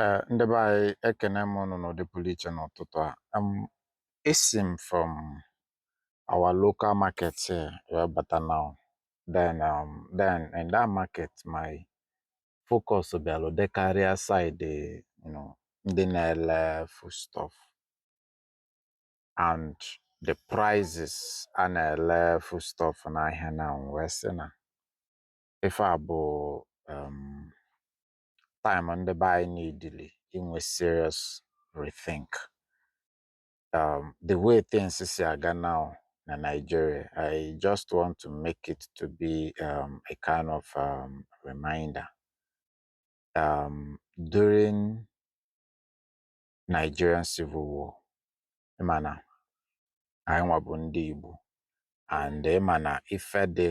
Ee, ndị be anyị ekene m ụnụ n'ụdị pụlụ iche n'ụtụtụ a. Um, esi m from our local market here wee bata now. Then, um, then in that market, my focus bịalụ dị karịa side, you know, ndị na-ele foodstuff and the prices a na-ele foodstuff n'ahịa now wee sị na ife a bụ um, time ndị be anyị nidili inwe serious rethink um, the way things si aga now na Nigeria I just want to make it to be um, a kind of um, reminder um, during Nigerian Civil War ị ma na anyị nwa bụ ndị Igbo and ị ma na ife dị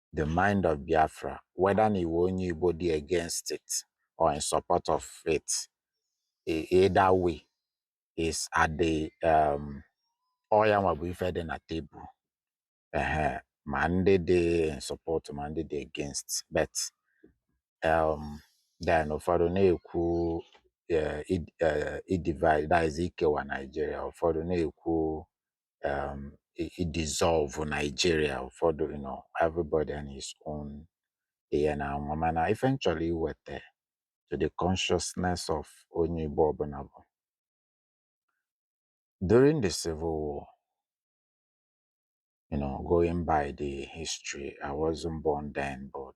the mind of Biafra, whether na ị wụ onye Igbo dị against it or in support of it, e- either way is at the um, ọ ya nwa bụ ife dị na table. Ehe, ma ndị dị in support ma ndị dị against but um, then ụfọdụ na-ekwu eh, id- eh, idivide that is ikewa Nigeria ụfọdụ na-ekwu um i- idissolve Nigeria ụfọdụ you know everybody and his own ihe na anwa mana ife m chọlọ iweta to the consciousness of onye Igbo ọbụna bụ during the civil war you know going by the history I wasn't born then but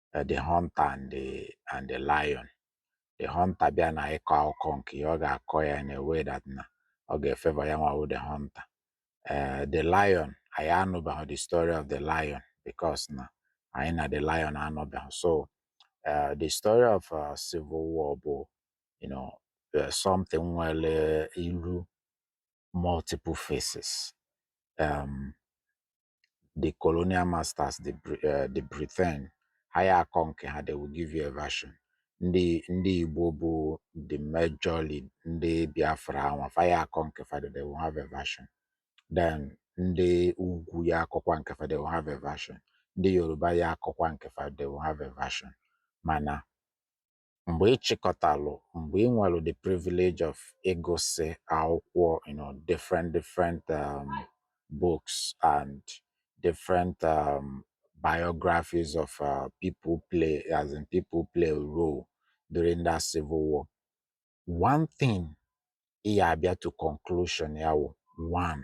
eh, The Hunter and the, and the Lion The Hunter bịa na ịkọ akụkọ nke ya ọ ga-akọ ya na way that na ọ ga-efavour ya nwa wụ The Hunter eh, The Lion anyị anụbeghị the story of the lion because na anyị na the lion anọbeghị so eh, the story of uh, civil war bụ you know, eh, something nwelụ ilu multiple faces um, the colonial masters the Bri- eh, the britain ha ya akọ nke ha they will give you a version ndị ndị igbo bụ the majorly ndị biafra anwa fa ya akọ nke fa they will have a version then ndị ugwu ya akọkwa nke fa they will have a version ndị yoruba ya akọkwa nke fa they will have a version mana mgbe ị chịkọtalụ mgbe ị nwelụ the privilege of ịgụsị akwụkwọ you know, different different um, books and different um, biographies of uh, people play as in people play a role during that civil war one thing ị ya abịa to conclusion ya wụ one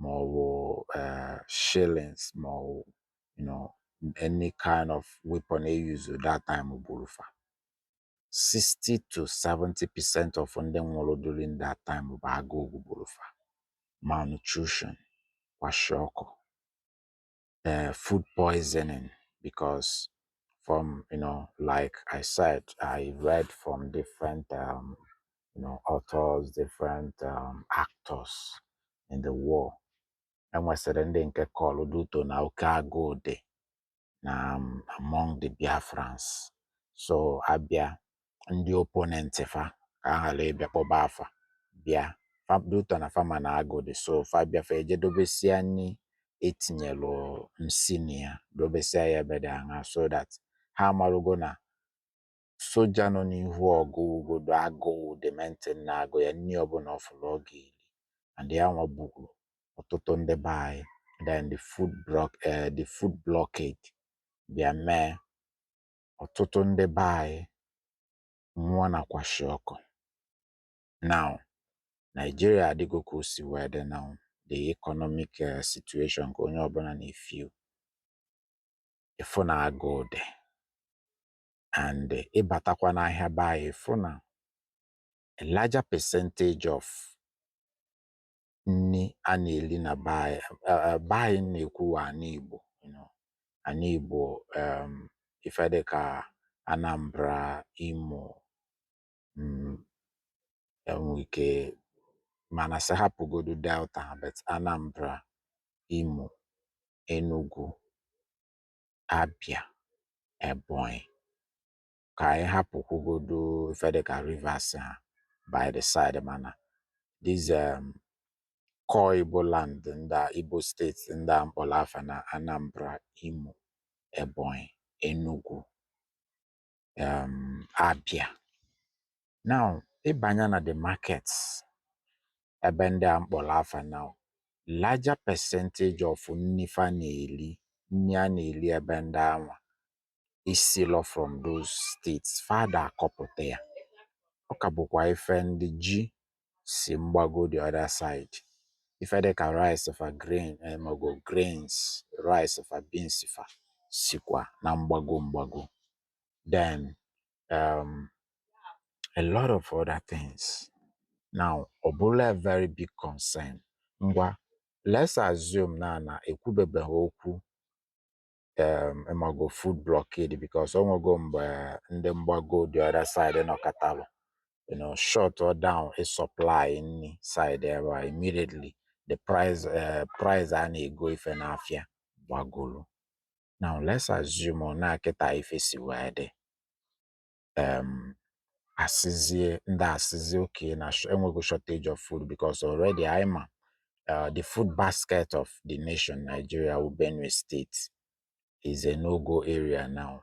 ma ọ bụ eh, shellings ma ọ bụ you know, any kind of weapon e use that time gburu fa 60 to 70 percent of ndị nwụrụ during that time bụ agụụ gburu fa malnutrition kwashiorkor uh, food poisoning because from you know like i said i read from different um, you know authors different um, actors in the war e nwesịrị ndị nke kọlụ due to na oke agụụ dị na um, among the biafrans so a bịa ndị opponent fa ka a ghara ịbịa kpọba afa bịa fa due to na fa ma na agụụ dị so fa bịa fa eje dobesia nni e tinyelụ nsi na ya dobesia ya ebe dị aṅa so that ha amarugo na soja nọ n'ihu ọgụ ugodo agụụ dị mentin na-agụ ya nni ọbụna ọ fụlụ ọ ga-eli and ya nwa gburu ọtụtụ ndị be anyị then the food block, uh, the food blockade bịa mee ọtụtụ ndị be anyị nwụọ na kwashiorkor now Nigeria adịgo ka o si wee dị now the economic eh, situation ka onye ọbụla na-efeel ị fụ na agụụ dị and eh, ị batakwa n'ahịa be anyị ị fụ na a larger percentage of nni a na-eli na be anyị eh, eh, be anyị na-ekwu wa ana Igbo you know. ana Igbo em, ife dị ka Anambra Imo mm, enwe ike mana sị hapụgodu Delta ha, but Anambra Imo Enugu Abia Ebonyi ka anyị hapụkwugodu ife dịka Rivers ha by the side mana these um, core Igbo land ndị a, Igbo state ndị a m kpọlọ afa na Anambra, Imo, Ebonyi, Enugu, um, Abia. Now, ị banya na the markets ebe ndị a m kpọlọ afa na larger percentage of nni fa na-eli, nni a na-eli ebe ndị anwa esilọ from those states fa da akọpụta ya ọ ka bụkwa ife ndị ji si mgbago the other side ife dịka rice fa grain eh, mago grains rice fa beans fa sikwa na mgbago mgbago then um, a lot of other things now ọ bụlụ a very big concern ngwa let's assume na na ekwubebeghị okwu um ịmago food blockade because ọ nwego mgbe ndị mgbago the other side nọkatalụ you know shutụọ down ị supply nni side ebe a immediately the price uh, price a na-ego ife n'afịa gbagolu now let's assume na kịta ife si wee dị um asịzie ndị asịzie okay na sh- enweghị shortage of food because already anyị ma uh, the food basket of the nation Nigeria wụ Benue State is a no-go area now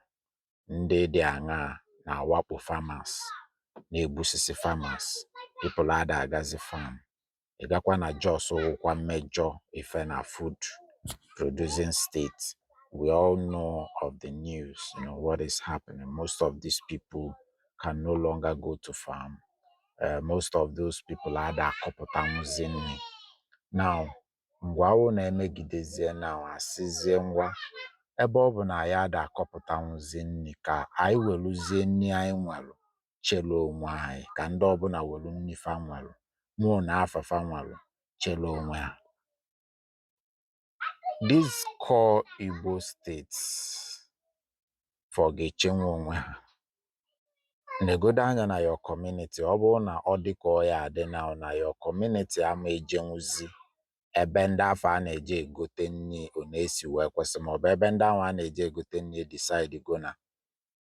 ndị dị anwa na-awakpo farmers na-egbusisi farmers people ada agazi farm ị gakwa na Jos wụkwa major ife na food producing state we all know of the news you know what is happening most of these people can no longer go to farm uh, most of those people ada akọpụtanwụzi nni now ngwa wụ na-emegidezie now asịzie ngwa ebe ọ bụ na ya ada akọpụtanwụzi nni ka anyị weluzie nni anyị nwelụ chela onwe anyị ka ndị ọbụla welu nni fa nwelu mụọ na afa fa nwelu chela onwe ha these core Igbo states fa ga-echenwu onwe ha negodu anya na your community ọ bụrụ na ọ dị ka ọ ya adị na na your community ama ejenwuzi ebe ndị afụ a na-eje egote nni ọ na-esi wee kwesị maọbụ ebe ndị ahụ a na-eje egote nni decidego na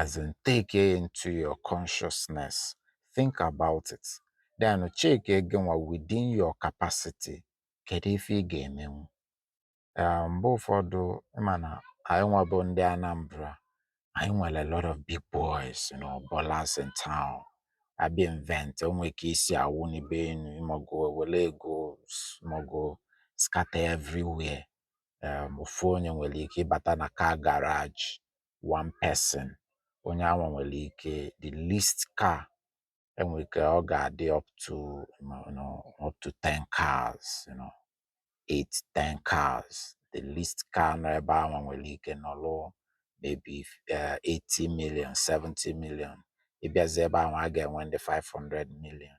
as in take it into your consciousness think about it then check again within your capacity kedu ife ị ga-emenwu Eh, mgbe ụfọdụ ịma na anyị nwa bụ ndị Anambra anyị nwere a lot of big boys you know, ballers in town abịa event o nwe ka e si awụnibe enu ịmago e were ego s- ịmago scatter everywhere um ofu onye nwere ike ịbata na car garage one person onye anwa nwere ike the least car enwere ike ọ ga-adị up to you know, up to 10 cars you know, 8 10 cars the least car nọ ebe anwa nwere ike nọlụ maybe uh, 80 million 70 million ị bịazi ebe anwa a ga-enwe ndị 500 million